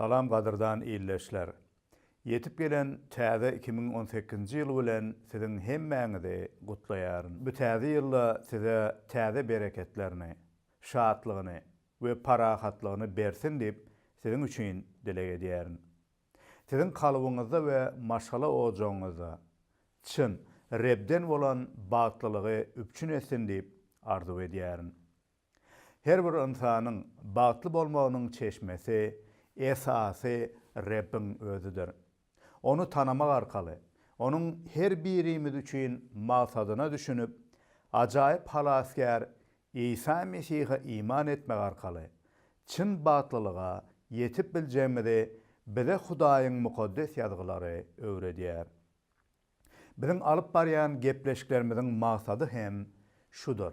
Salam gadyrdan ildeşler. Ýetip gelen täze iki müň on sekizinji ýyl bilen siziň hemmäňizi gutlaýaryn. Bu täze ýylda size täze bereketlerini, şatlygyny we parahatlygyny bersin diýip siziň üçin dileg edýärin. Siziň kalbyňyzda we maşgala ojagyňyzda çyn Rebden bolan bagtlylygy üpjün etsin diýip arzuw edýärin. Her bir ynsanyň bagtly bolmagynyň çeşmesi, esasy Rebbiň Özüdir. Ony tanamak arkaly, Onuň her birimiz üçin maksadyna düşünip, ajaýyp Halasgär Isa Mesihe iman etmek arkaly, çyn bagtlylyga ýetip biljegimizi bize Hudaýyň Mukaddes Ýazgylary öwredýär. Biziň alyp barýan gepleşiklerimiziň maksady hem şudur.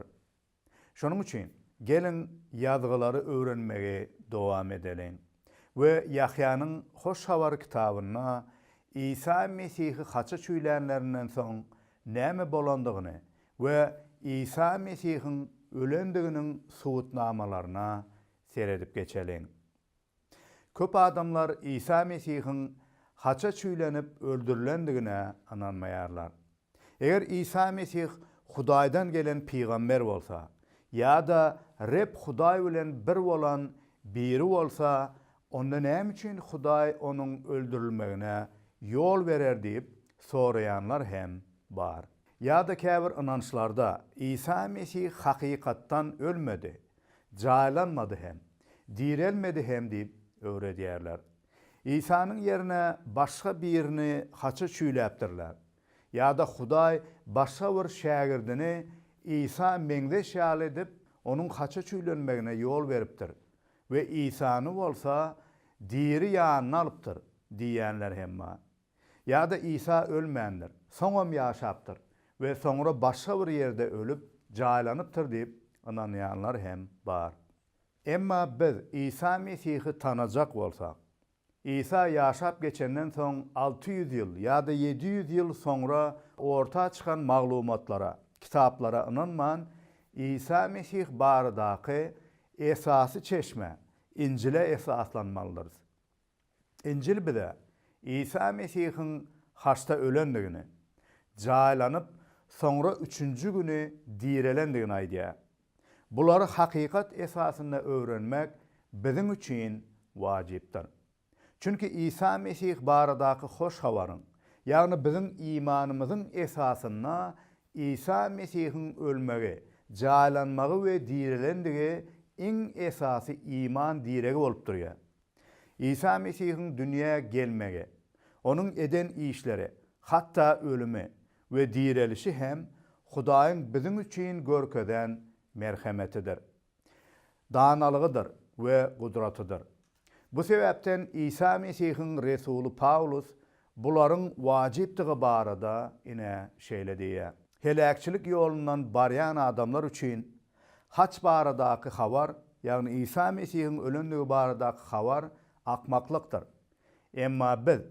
Şonuň üçin, geliň, Ýazgylary öwrenmegi dowam edeliň we Ýahýanyň Hoş Habary kitabynda Isa Mesihi haça çüýlänlerinden soň näme bolandygyny we Isa Mesihiň ölendiginiň subutnamalaryna seredip geçeliň. Köp adamlar Isa Mesihiň haça çüýlenip öldürilendigine ynanmaýarlar. Eger Isa Mesih Hudaýdan gelen pygamber bolsa ýa-da Reb Hudaý bilen bir bolan biri bolsa, onda näme üçin Hudaý onuň öldürilmegine ýol berer diýip soraýanlar hem bar. Ýa-da käbir ynançlarda Isa Mesih hakykatdan ölmedi, Jaýlanmady hem, direlmedi hem diýip öwredýärler. Isanyň ýerine başga birini haça çüýläpdirler. Ýa-da Hudaý başga bir şägirdini Isa meňzeş ýaly edip, onuň haça çüýlenmegine ýol beripdir we Isany bolsa diri ýanyna alypdyr diýýänler hem bar. Ýa-da Isa ölmändir, soňam ýaşapdyr we soňra başga bir ýerde ölüp, jaýlanypdyr diýip ynanýanlar hem bar. Emma biz Isa Mesihi tanajak bolsak, Isa ýaşap geçenden soň alty ýüz ýyl ýa-da ýedi ýüz ýyl soňra orta çykan maglumatlara, kitaplara ynanman, Isa Mesih baradaky esasy çeşme, Injile esaslanmalydyrys. Injil bize Isa Mesihiň haçda ölendigini, jaýlanyp, soňra üçünji güni direlendigini aýdýar. Bulary hakykat esasynda öwrenmek biziň üçin wajypdyr. Çünki Isa Mesih baradaky hoş habaryň, ýagny biziň imanymyzyň esasynda Isa Mesihiň ölmegi, jaýlanmagy we direlendigi iň esasy iman diregi bolup durýar. Isa Mesihiň dünýä gelmegi, onuň eden işleri, hatda ölümi we direlişi hem Hudaýyň biziň üçin görkezen merhemetidir, danalygydyr we gudratydyr. Bu sebäpden Isa Mesihiň resuly Pawlus bularyň wajypdygy barada ine şeýle diýýär, Heläkçilik ýolundan barýan adamlar üçin Haç baradaky habar, ýagny Isa Mesihiň ölendigi baradaky habar akmaklykdyr. Emma biz,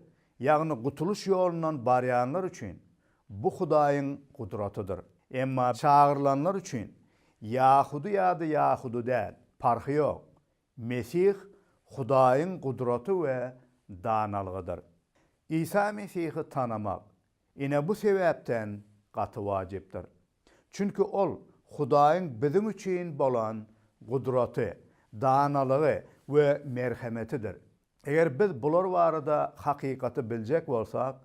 ýagny gutulyş ýolundan barýanlar üçin, bu Hudaýyň gudratydyr. Emma çagyrylanlar üçin, ýahudy ýa-da ýahudy däl, parhy ýok, Mesih Hudaýyň gudraty we danalgydyr. Isa Mesihi tanamak, ine, bu sebäpden gaty wajypdyr. Çünki ol Hudaýyň biziň üçin bolan gudraty, danalygy we merhemetidir. Eger biz bular barada hakykaty biljek bolsak,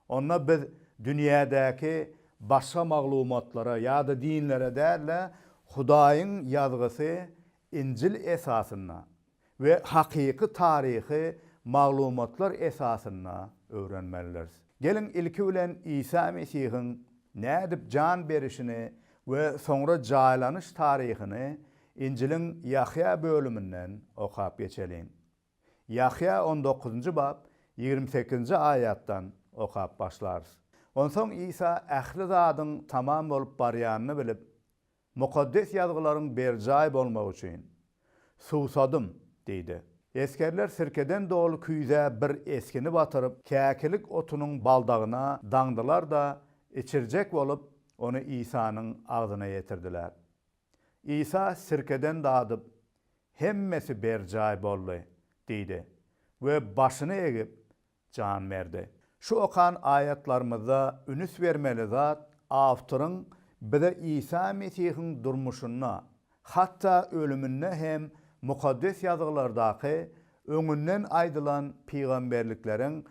onda biz dünýädäki başga maglumatlara ýa-da dinlere däl-de, Hudaýyň Ýazgysy Injil esasynda we hakyky taryhy maglumatlar esasynda öwrenmelidiris. Geliň, ilki bilen Isa Mesihiň nädip jan berişini we soňra jaýlanyş taryhyny Injiliň Ýahýa bölüminden okap geçeliň. Ýahýa on dokuzynjy bap, ýigrimi sekizinji aýatdan okap başlarys. Onsoň Isa ähli zadyň tamam bolup barýanyny bilip, Mukaddes Ýazgylaryň berjaý bolmagy üçin, Suwsadym diýdi. Esgerler sirkeden doly küýzä bir esgini batyryp, käkilik otunyň baldagyna daňdylar-da, içirjek bolup, ony Isanyň agzyna ýetirdiler. Isa sirkeden dadyp, Hemmesi berjaý boldy diýdi we başyny egip, jan berdi. Şu okan aýatlarymyzda ünüs bermeli zat awtoryň bize Isa Mesihiň durmuşynda, hatda ölüminde hem Mukaddes Ýazgylardaky öňünden aýdylan pygamberlikleriň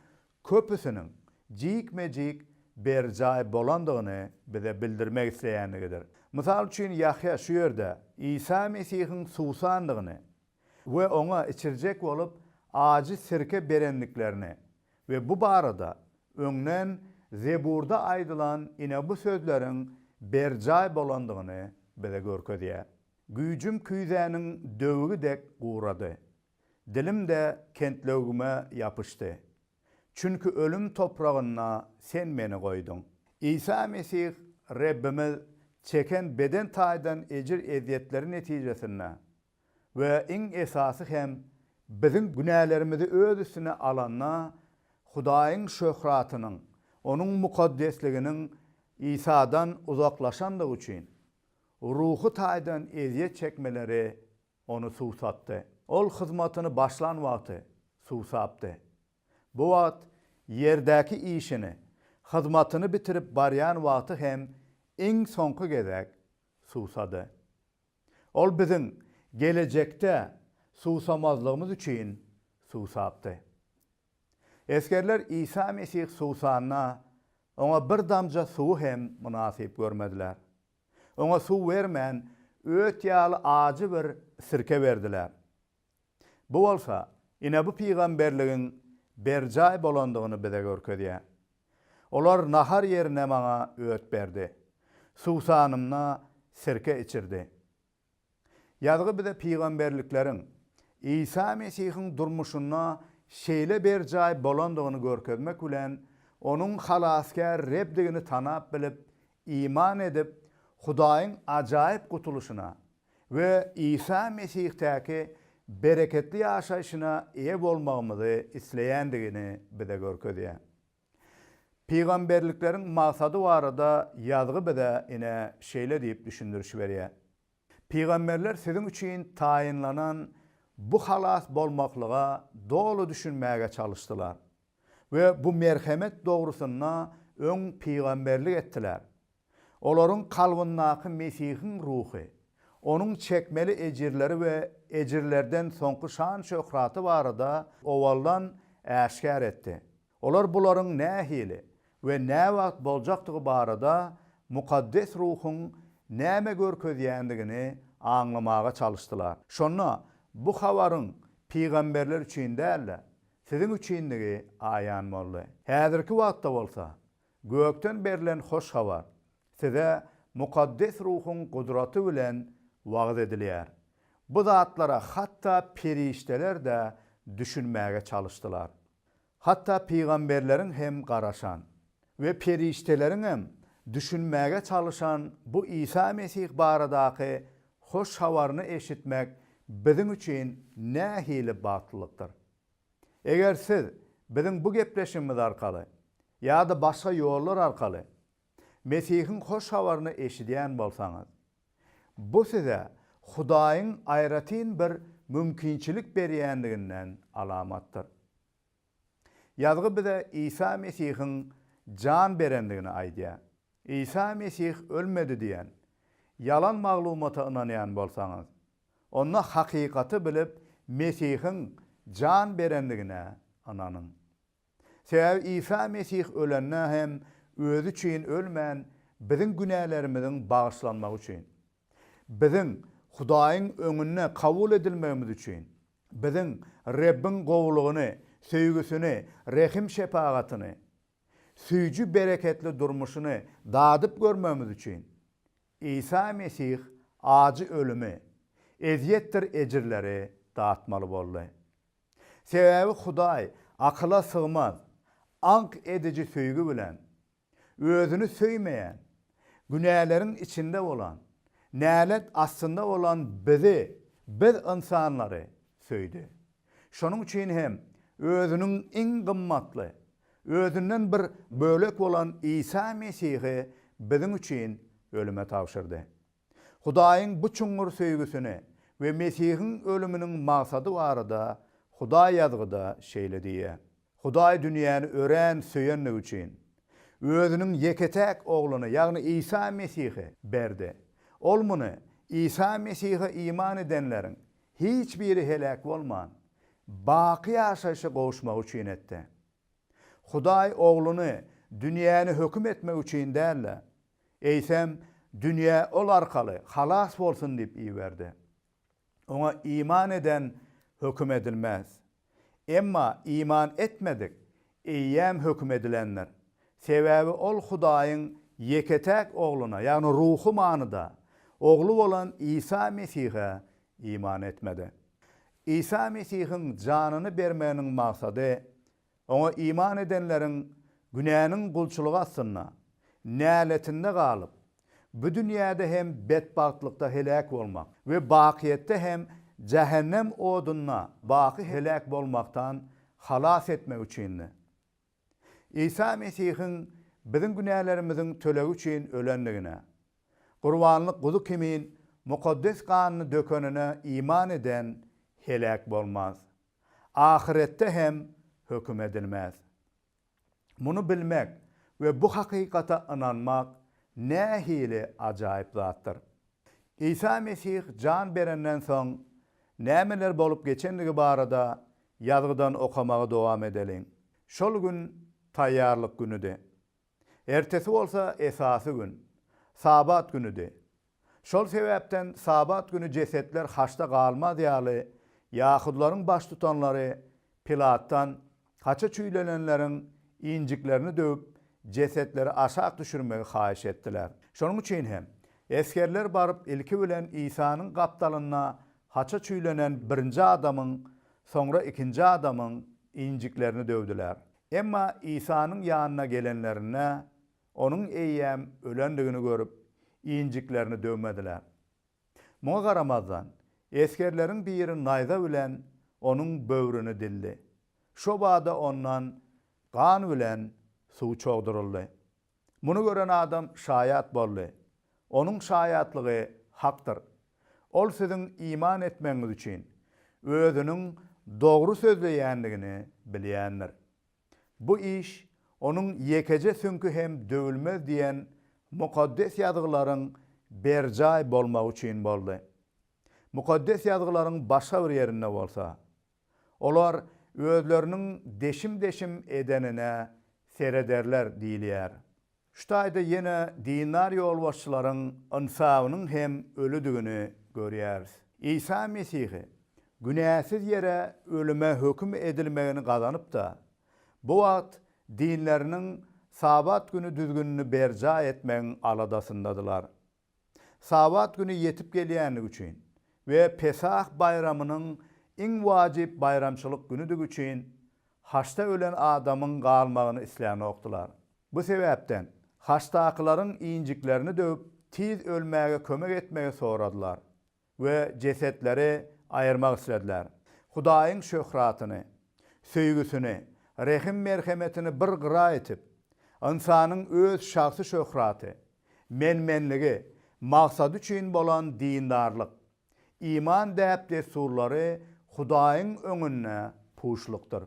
köpüsiniň jikme-jik berjaý bolandygyny bize bildirmek isleýändigidir. Mysal üçin, Ýahýa şu ýerde Isa Mesihiň suwsandygyny we oňa içirjek bolup ajy sirke berendiklerini we bu barada öňden Zeburda aýdylan ine bu sözleriň berjaý bolandygyny bize görkezýär, Güýjüm küýzäniň döwügi dek gurady, Dilim-de kentlewgime ýapyşdy. Çünki ölüm topragynda Sen meni goýduň. Isa Mesih Rebbimiz çeken beden taýdan ejir-ezýetleri netijesinde we iň esasy hem biziň günälerimizi Öz üstüne alanda Hudaýyň şöhratynyň, Onuň mukaddesliginiň Isadan uzaklaşandygy üçin, ruhy taýdan ezýet çekmeleri Ony suwsatdy. Ol hyzmatyny başlan wagty suwsapdy. Bu wagt ýerdäki işini, hyzmatyny bitirip barýan wagty hem iň soňky gezek suwsady. Ol biziň gelejekde suwsamazlygymyz üçin suwsapdy. Esgerler Isa Mesih suwsanda, Oňa bir damja suwy hem mynasyp görmediler. Oňa suw bermän, öt ýaly ajy bir sirke berdiler. Bu bolsa, ine bu pygamberligiň berjaý bolandygyny bize görkezýär. Olar nahar ýerine maňa öt berdi, suwsanymda sirke içirdi. Ýazgy bize pygamberlikleriň Isa Mesihiň durmuşynda şeýle berjaý bolandygyny görkezmek bilen, Onuň Halasgär Rebdigini tanap-bilip, iman edip, Hudaýyň ajaýyp gutulyşyna we Isa Mesihdäki bereketli ýaşaýşyna eýe bolmagymyzy isleýändigini bize görkezýär. Pygamberlikleriň maksady barada ýazgy bize ine şeýle diýip düşündiriş berýär, Pygamberler siziň üçin taýynlanan bu halas bolmaklyga doly düşünmäge çalyşdylar we bu merhemet dogrusynda öň pygamberlik etdiler. Olaryň kalbyndaky Mesihiň ruhy, Onuň çekmeli ejirleri we ejirlerden soňky şan-şöhraty barada owaldan äşgär etdi. Olar bularyň nähili we näwagt boljakdygy barada mukaddes ruhuň näme görkezýändigini aňlamaga çalyşdylar. Şonda bu habaryň pygamberler üçin däl-de, siziň üçindigi aýan boldy. Häzirki wagtda bolsa, gökden berlen hoş habar size mukaddes ruhuň gudraty bilen wagyz edilýär. Bu zatlara hatda perişdeler-de düşünmäge çalyşdylar. Hatda pygamberleriň hem garaşan we perişdeleriňem düşünmäge çalyşan bu Isa Mesih baradaky hoş habaryny eşitmek biziň üçin nähili bagtlylykdyr! Eger siz biziň bu gepleşigimiz arkaly ýa-da başga ýollar arkaly Mesihiň hoş habaryny eşidýän bolsaňyz, Bu size Hudaýyň aýratyn bir mümkinçilik berýändiginden alamatdyr. Ýazgy bize Isa Mesihiň jan berendigini aýdýar. Isa Mesih ölmedi diýen ýalan maglumata ynanýan bolsaňyz, onda hakykaty bilip, Mesihiň jan berendigine ynanyň. Sebäbi Isa Mesih ölende hem özi üçin ölmän, biziň günälerimiziň bagyşlanmagy üçin, biziň Hudaýyň öňünde kabul edilmegimiz üçin, biziň Rebbiň gowulygyny, söýgüsini, rehim-şepagatyny, süýji bereketli durmuşyny dadyp görmegimiz üçin, Isa Mesih ajy ölümi, ezýetdir ejirleri datmaly boldy. Sebäbi Hudaý akyla sygmaz, aňk ediji söýgi bilen, özüni söýmeýän, günäleriň içinde bolan, nälet astynda bolan bizi, biz ynsanlary, söýdi. Şonuň üçin hem özüniň iň gymmatly, özünden bir bölek bolan Isa Mesihi biziň üçin ölüme tabşyrdy. Hudaýyň bu çuňňur söýgüsini we Mesihiň ölüminiň maksady barada Hudaý Ýazgyda şeýle diýýär, Hudaý dünýäni örän söýenligi üçin, Özüniň ýeke-täk Ogluny, ýagny Isa Mesihi, berdi. Ol muny Isa Mesihe iman edenleriň hiç biri heläk bolman, baky ýaşaýşa gowuşmagy üçin etdi. Hudaý Ogluny dünýäni höküm etmek üçin däl-de, eýsem, dünýä ol arkaly halas bolsun diýip iberdi. Oňa iman eden höküm edilmez. Emma iman etmedik eýýäm höküm edilendir. Sebäbi ol Hudaýyň ýeke-täk Ogluna, ýagny ruhy manyda Ogly bolan Isa Mesihe iman etmedi. Isa Mesihiň janyny bermeginiň maksady Oňa iman edenleriň günäniň gulçulygy astynda, näletinde galyp, bu dünýäde hem betbagtlykda heläk bolmak we bakyýetde hem jähennem odunda baky heläk bolmakdan halas etmek üçindi. Isa Mesihiň biziň günälerimiziň tölegi üçin ölendigine, gurbanlyk guzy kimin mukaddes ganyny dökenine iman eden heläk bolmaz. Ahyretde hem höküm edilmez. Muny bilmek we bu hakykata ynanmak nähili ajaýyp zatdyr! Isa Mesih jan berenden soň nämeler bolup geçendigi barada ýazgydan okamagy dowam edeliň. Şol gün Taýýarlyk günüdi. Ertesi bolsa esasy gün, Sabat günüdi. Şol sebäpden Sabat güni jesetler haçda galmaz ýaly, ýahudylaryň baştutanlary Pilatdan haça çüýlenenleriň injiklerini döwüp, jesetleri aşak düşürmegi haýyş etdiler. Şonuň üçin hem, esgerler baryp, ilki bilen Isanyň gapdalynda haça çüýlenen birinji adamyň, soňra ikinji adamyň injiklerini döwdüler. Emma Isanyň ýanyna gelenlerinde, onuň eýýäm ölendigini görüp, injiklerini döwmediler. Muňa garamazdan, esgerleriň biri naýza bilen onuň böwrüni dildi. Şo bada ondan gan bilen suw çogduryldy. Muny gören adam şaýat boldy. Onuň şaýatlygy hakdyr. Ol siziň iman etmegiňiz üçin, özüniň dogry sözleýändigini bilýändir. Bu iş onuň ýekeje süňki hem döwülmez diýen Mukaddes Ýazgylaryň berjaý bolmagy üçin boldy. Mukaddes Ýazgylaryň başga bir ýerinde bolsa, Olar özleriniň deşim-deşim edenine serederler diýilýär. Şu taýda ýene dindar ýolbaşçylaryň ynsabynyň hem ölüdigini görýäris. Isa Mesihi günäsiz ýere ölüme höküm edilmegini gazanyp-da, bu wagt dinleriniň Sabat güni düzgünini berjaý etmegiň aladasyndadylar. Sabat güni ýetip gelýändigi üçin we Pesah baýramynyň iň wajyp baýramçylyk günüdigi üçin haçda ölen adamyň galmagyny islänokdylar. Bu sebäpden, haçdakylaryň injiklerini döwüp, tiz ölmäge kömek etmegi soradylar. we jesetleri aýyrmak islediler. Hudaýyň şöhratyny, söýgüsini, rehim-merhemetini bir gyra itip, ynsanyň öz şahsy şöhraty, men-menligi, maksady üçin bolan dindarlyk, iman däp-dessurlary Hudaýyň öňünde puşlukdyr.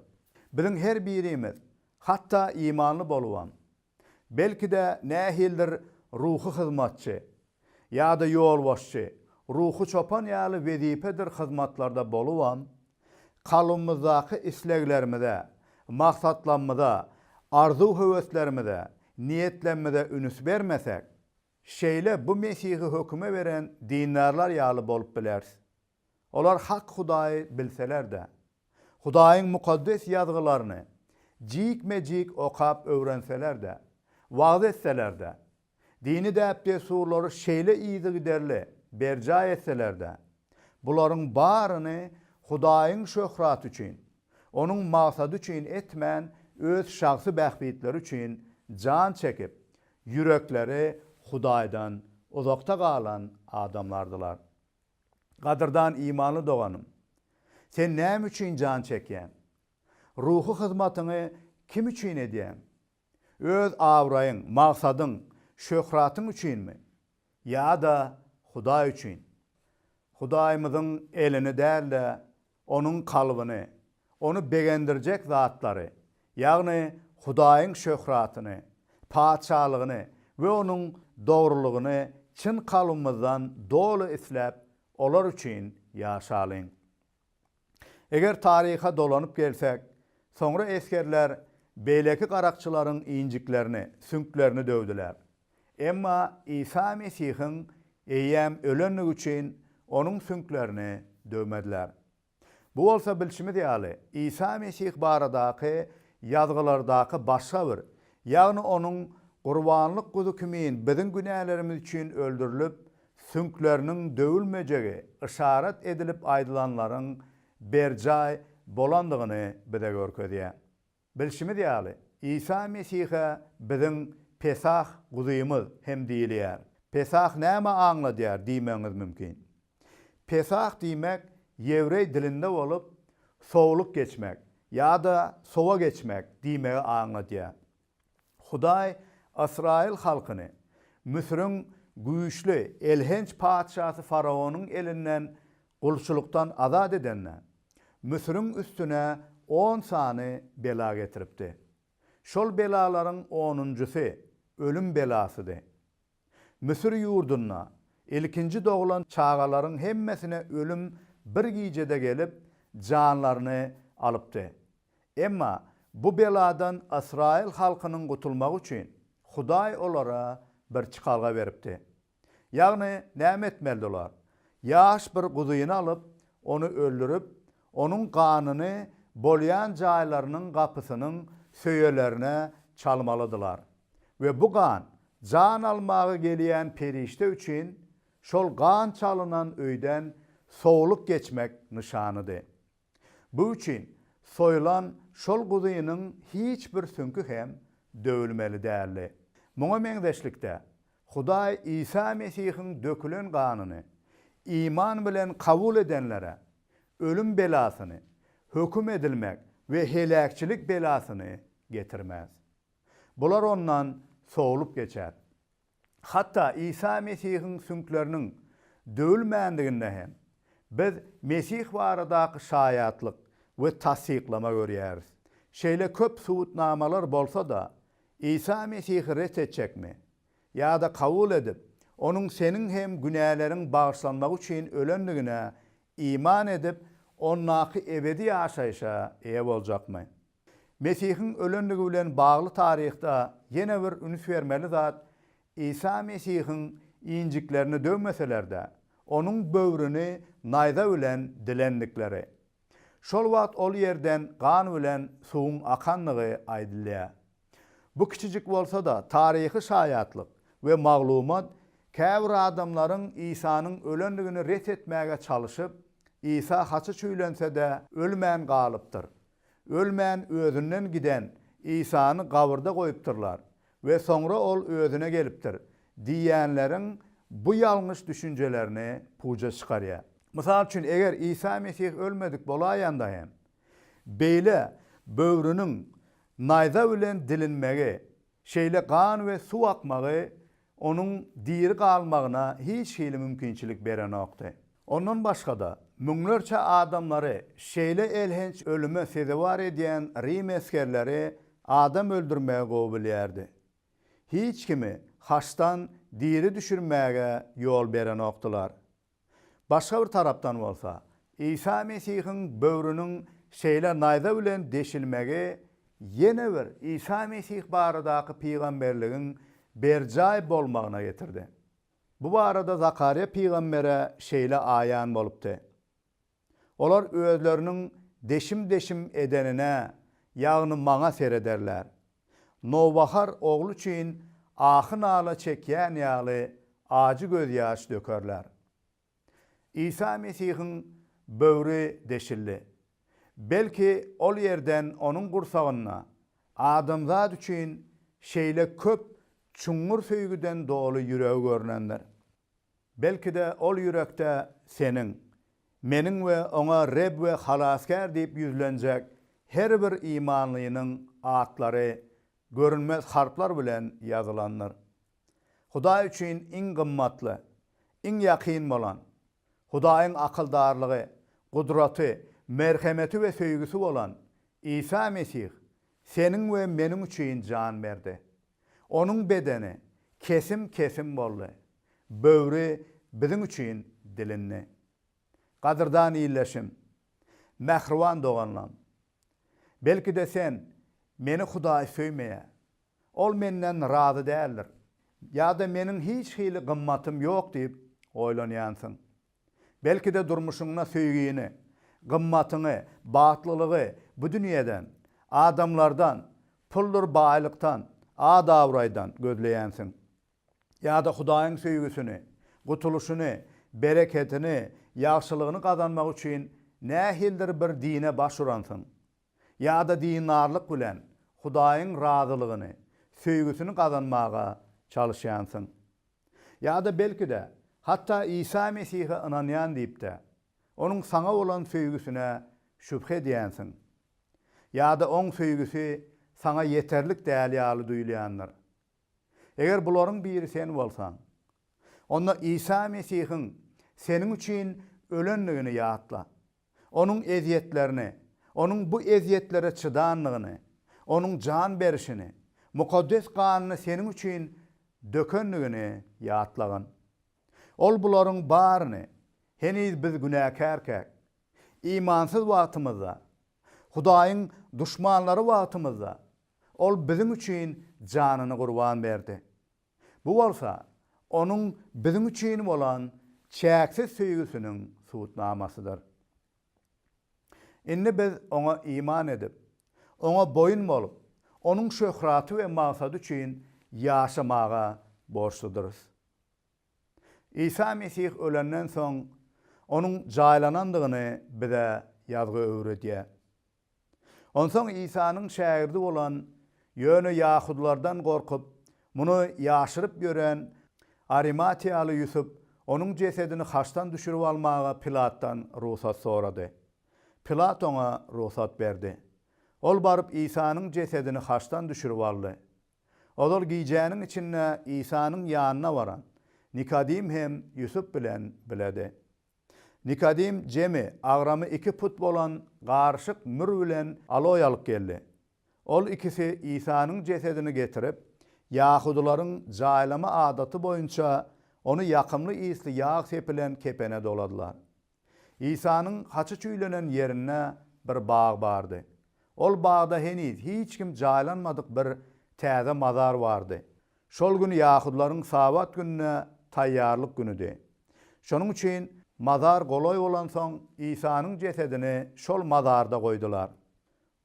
Biziň her birimiz, hatda imanly bolubam, Belki-de nähildir ruhy hyzmatçy ýa-da ýolbaşçy, ruhy çopan ýaly wezipedir hyzmatlarda bolubam, kalbymyzdaky isleglerimize, maksatlamyza, arzuw-höweslerimize, niýetlemmze ünüs bermesek, şeýle bu Mesihi höküme beren dindarlar ýaly bolup bileris. Olar hak Hudaýy bilseler-de, Hudaýyň Mukaddes Ýazgylaryny jikme-jik okap öwrenseler-de, wagyz etseler-de, dini däp-dessurlary şeýle yzygiderli berjaý etseler-de, bularyň baryny Hudaýyň şöhraty üçin, Onuň maksady üçin etmän, öz şahsy bähbitleri üçin jan çekip, ýürekleri Hudaýdan uzakda galan adamlardylar. Gadyrdan imanly doganym! Sen näme üçin jan çekýäň? Ruhy hyzmatyňy kim üçin edýäň? Öz abraýyň, magsadyň, şöhratyň üçinmi? Ýa-da Hudaý üçin? Hudaýymyzyň elini däl-de, onuň kalbyny, ony begendirjek zatlary, ýagny Hudaýyň şöhratyny, Patyşalygyny we Onuň dogrulygyny çyn kalbymyzdan doly isläp, olar üçin ýaşalyň. Eger taryha dolanyp gelsek, soňra esgerler beýleki garakçylaryň injiklerini, süňklerini döwdüler. Emma Isa Mesihiň eýýäm ölendigi üçin onuň süňklerini döwmediler. Bu bolsa bilşimiz ýaly, Isa Mesih baradaky Ýazgylardaky başga bir, ýagny onuň gurbanlyk guzy kimin biziň günälerimiz üçin öldürilip, süňkleriniň döwülmejegi yşarat edilip aýdylanlaryň berjaý bolandygyny bize görkezýär. Bilşimiz ýaly, Isa Mesihe biziň Pesah guzymyz hem diýilýär. Pesah näme aňladýar diýmegiňiz mümkin. Pesah diýmek ýewreý dilinde bolup, sowlup geçmek ýa-da sowa geçmek diýmegi aňladýar. Hudaý ysraýyl halkyny Müsüriň güýçli, elhenç patyşasy faraonyň elinden Gulçulykdan azat edende, Müsüriň üstüne on sany bela getiripdi. Şol belalaryň onunjysy ölüm belasydy. Müsür ýurdunda ilkinji doglan çagalaryň hemmesine ölüm bir gijede gelip, janlaryny alypdy. Emma bu beladan ysraýyl halkynyň gutulmagy üçin Hudaý olara bir çykalga beripdi. Ýagny, näme etmelidi olar? Ýaş bir guzyny alyp, ony öldürip, onuň ganyny bolýan jaýlarynyň gapysynyň söýelerine çalmalydylar. We bu gan, jan almaga gelýän perişde üçin, şol gan çalynan öýden sowlup geçmek nyşanydy. Bu üçin soýulan şol guzynyň hiç bir süňki hem döwülmeli däldi. Muňa meňzeşlikde, Hudaý Isa Mesihiň dökülen ganyny iman bilen kabul edenlere ölüm belasyny, höküm edilmek we heläkçilik belasyny getirmez. Bular ondan sowlup geçer. Hatda Isa Mesihiň süňkleriniň döwülmändiginde hem biz Mesih baradaky şaýatlyk we tassyklama görýäris. Şeýle köp subutnamalar bolsa-da, Isa Mesihi ret etjekmi? Ýa-da kabul edip, Onuň seniň hem günäleriň bagyşlanmagy üçin ölendigine iman edip, Ondaky ebedi ýaşaýşa eýe boljakmy? Mesihiň ölendigi bilen bagly taryhda ýene bir üns bermeli zat, Isa Mesihiň injiklerini döwmeseler-de, onuň böwrüni naýza bilen dilendikleri. Şol wagt ol ýerden gan bilen suwuň akandygy aýdylýar. Bu kiçijik bolsa-da taryhy şaýatlyk we maglumat käbir adamlaryň Isanyň ölendigini ret etmäge çalyşyp, Isa haçy çüýlense-de, ölmän galypdyr. Ölmän özünden giden Isany gabyrda goýupdyrlar we soňra ol özüne gelipdir diýýänleriň bu ýalňyş düşünjelerini puja çykarýar. Mysal üçin, eger Isa Mesih ölmedik bolaýanda hem, beýle böwrüniň naýza bilen dilinmegi, şeýle gan we suw akmagy onuň diri galmagyna hiç hili mümkinçilik berenokdy. Ondan başga-da, müňlerçe adamlary şeýle elhenç ölüme sezewar edýän rim esgerleri adam öldürmegi gowy bilýärdi. Hiç kimi haçdan diri düşürmäge ýol berenokdylar. Başga bir tarapdan bolsa, Isa Mesihiň böwrüniň şeýle naýza bilen deşilmegi ýene bir Isa Mesih baradaky pygamberligiň berjaý bolmagyna getirdi. Bu barada Zakarýa pygambere şeýle aýan bolupdy, Olar özleriniň deşim-deşim edenine, ýagny maňa serederler. Nowbahar ogly üçin ahy-nala çekýän ýaly ajy gözýaş dökerler. Isa Mesihiň böwri deşildi. Belki, ol ýerden onuň gursagynda adamzat üçin şeýle köp çuňňur söýgüden doly ýüregi görnendir. Belki-de, ol ýürekde seniň, meniň we oňa Reb we Halasgär diýip ýüzlenjek her bir imanlynyň atlary görünmez harplar bilen ýazylandyr. Hudaý üçin iň gymmatly, iň ýakyn bolan, Hudaýyň akyldarlygy, gudraty, merhemeti we söýgüsi bolan Isa Mesih seniň we meniň üçin jan berdi. Onuň bedeni kesim-kesim boldy, böwri biziň üçin dilindi. Gadyrdan illeşim, mähriban doganlam! Belki-de sen, Meni Hudaý söýmeýär, Ol menden razy däldir ýa-da meniň hiç hili gymmatym ýok diýip oýlanýansyň. Belki-de durmuşyňda söýgini, gymmatyňy, bagtlylygy bu dünýeden, adamlardan, puldyr baýlykdan, at-abraýdan gözleýänsiň. Ýa-da Hudaýyň söýgüsini, gutulyşyny, bereketini, ýagşylygyny gazanmak üçin nähilidir bir dine baş uransyň. ýa-da dindarlyk bilen Hudaýyň razylygyny, söýgüsini gazanmaga çalyşýansyň. Ýa-da belki-de, hatda Isa Mesihe ynanýan diýip-de, Onuň saňa bolan söýgüsine şübhe edýänsiň. Ýa-da Oň söýgüsi saňa ýeterlik däl ýaly duýulýandyr. Eger bularyň biri sen bolsaň, onda Isa Mesihiň seniň üçin ölendigini ýatla. Onuň ezýetlerini, Onuň bu ezýetlere çydandygyny, Onuň jan berişini, mukaddes ganyny seniň üçin dökendigini ýatlagyn. Ol bularyň baryny, heniz biz günäkärkäk, imansyz wagtymyzda, Hudaýyň duşmanlary wagtymyzda Ol biziň üçin janyny gurban berdi. Bu bolsa Onuň biziň üçin bolan çäksiz söýgüsiniň subutnamasydyr. Indi biz Oňa iman edip, Oňa boýun bolup, Onuň şöhraty we maksady üçin ýaşamaga borçludyrys. Isa Mesih ölenden soň, Onuň jaýlanandygyny bize Ýazgy öwredýär. Onsoň Isanyň şägirdi bolan, ýöne ýahudylardan gorkup, muny ýaşyryp ýören arimatiýaly Ýusup onuň jesedini haçdan düşürip almaga Pilatdan rugsat sorady. Pilat oňa rugsat berdi. Ol baryp Isanyň jesedini haçdan düşürip aldy. Ozal gijäniň içinde Isanyň ýanyna baran Nikodim hem Ýusup bilen biledi. Nikodim Jemi agramy iki put bolan garyşyk mür bilen aloý alyp geldi. Ol ikisi Isanyň jesedini getirip, ýahudylaryň jaýlama adaty boýunça ony ýakymly ysly ýag sepilen kepene doladylar. Isanyň haçy çüýlenen ýerinde bir bag bardy. Ol bagda heniz hiç kim jaýlanmadyk bir täze mazar bardy. Şol gün ýahudylaryň Sabat gününe taýýarlyk günüdi. Şonuň üçin mazar golaý bolansoň, Isanyň jesedini şol mazarda goýdular.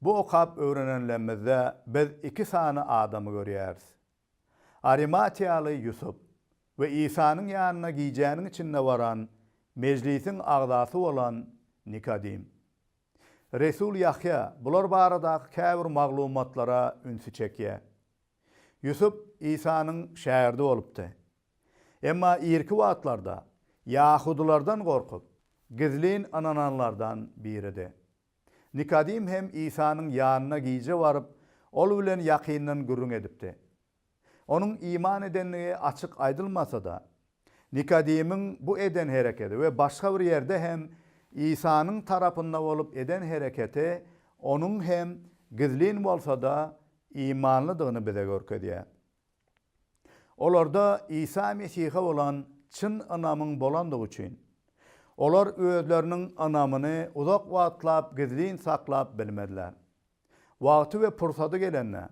Bu okap öwrenenlemizde biz iki sany adamy görýäris. Arimatiýaly Ýusup we Isanyň ýanyna gijäniň içinde baran mejlisiň agzasy bolan Nikodim. Resul Ýahýa bular baradaky käbir maglumatlara ünsi çekýär. Ýusup Isanyň şägirdi bolupdy. Emma irki wagtlarda ýahudylardan gorkup, gizlin ynananlardan biridi. Nikodim hem Isanyň ýanyna gije baryp, ol bilen ýakyndan gürrüň edipdi. Onuň iman edendigi açyk aýdylmasa-da, Nikodemiň bu eden hereketi we başga bir ýerde hem Isanyň tarapynda bolup eden hereketi onuň hem gizlin bolsa-da imanlydygyny bize görkezýär. Olarda Isa Mesihe bolan çyn ynamyň bolandygy üçin, olar özleriniň ynamyny uzak wagtlap gizlin saklap bilmediler. Wagty we pursady gelende,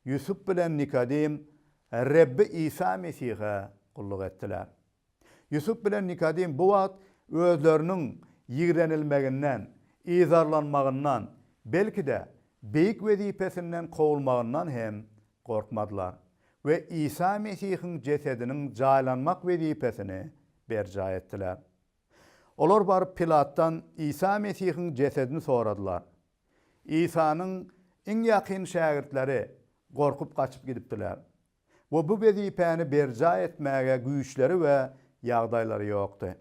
Ýusup bilen Nikodim Rebbi Isa Mesihe gulluk etdiler. Ýusup bilen Nikodim bu wagt özleriniň ýigrenilmeginden, yzarlanmagyndan, belki-de, beýik wezipesinden kowulmagyndan hem gorkmadylar we Isa Mesihiň jesediniň jaýlanmak wezipesini berjaý etdiler. Olar baryp Pilatdan Isa Mesihiň jesedini soradylar. Isanyň iň ýakyn şägirtleri gorkup gaçyp gidipdiler we bu wezipäni berjaý etmäge güýçleri we ýagdaýlary ýokdy.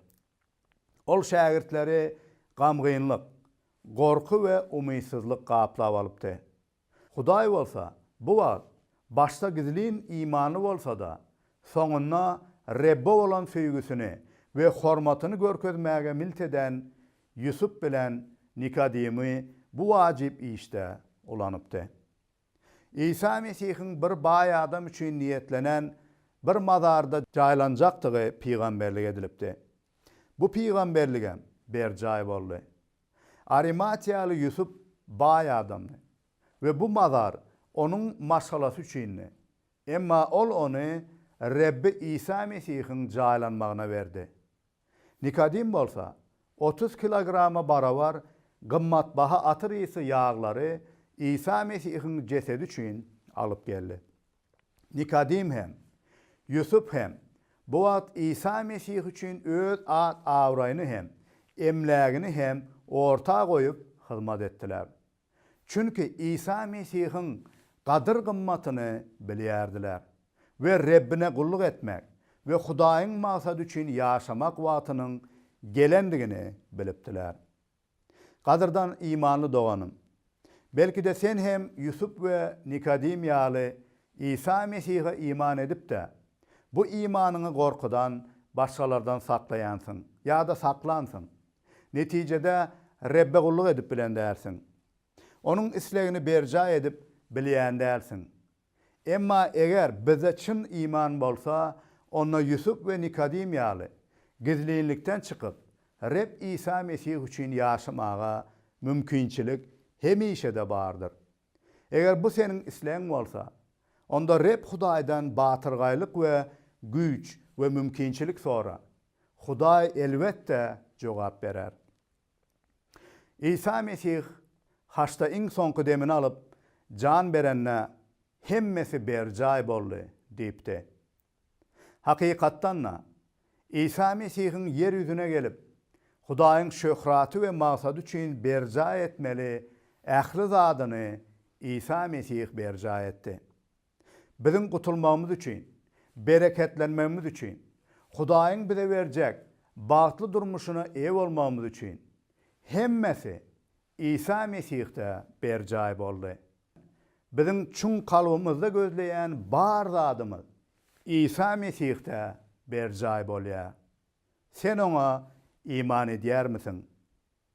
Ol şägirtleri gamgynlyk, gorky we umytsyzlyk gaplap alypdy. Hudaý bolsa bu wagt başda gizlin imanly bolsa-da, soňunda Rebbe bolan söýgüsini we hormatyny görkezmäge milt eden Ýusup bilen Nikodemi bu wajyp işde ulanypdy. Isa Mesihiň bir baý adam üçin niýetlenen bir mazarda jaýlanjakdygy pygamberlik edilipdi. Bu pygamberligem berjaý boldy. Arimatiýaly Ýusup baý adamdy we bu mazar onuň maşgalasy üçindi. Emma ol ony Rebbi Isa Mesihiň jaýlanmagyna berdi. Nikodim bolsa otuz kilograma barabar gymmatbaha atyr ysy ýaglary Isa Mesihiň jesedi üçin alyp geldi. Nikodim hem, Ýusup hem bu wagt Isa Mesih üçin öz at-abraýyny hem, emlägini hem orta goýup hyzmat etdiler. Çünki Isa Mesihiň gadyr-gymmatyny bilýärdiler we Rebbine gulluk etmek we Hudaýyň maksady üçin ýaşamak wagtynyň gelendigini bilipdiler. Gadyrdan imanly doganym! Belki-de sen hem Ýusup we Nikodim ýaly Isa Mesihe iman edip-de, bu imanyňy gorkudan başgalardan saklaýansyň ýa-da saklansyň. Netijede Rebbe gulluk edip bilen dälsiň. Onuň islegini berjaý edip bilýän dälsiň. Emma eger bizde çyn iman bolsa, onda Ýusup we Nikodim ýaly, gizlinlikden çykyp, Reb Isa Mesih üçin ýaşamaga mümkinçilik hemişe-de bardyr. Eger bu seniň islegiň bolsa, onda Reb Hudaýdan batyrgaýlyk we güýç we mümkinçilik sora. Hudaý, elbetde, jogap berer. Isa Mesih haçda iň soňky demini alyp, jan berende, Hemmesi berjaý boldy diýipdi. Hakykatdan-da, Isa Mesihiň ýer ýüzüne gelip, Hudaýyň şöhraty we maksady üçin berjaý etmeli ähli zadyny Isa Mesih berjaý etdi. Biziň gutulmagymyz üçin, bereketlenmegimiz üçin, Hudaýyň bize berjek bagtly durmuşyna eýe bolmagymyz üçin, hemmesi Isa Mesihde berjaý boldy. Biziň çuň kalbymyzda gözleýän bar zadymyz Isa Mesihde berjaý bolýar. Sen Oňa iman edýärmisiň?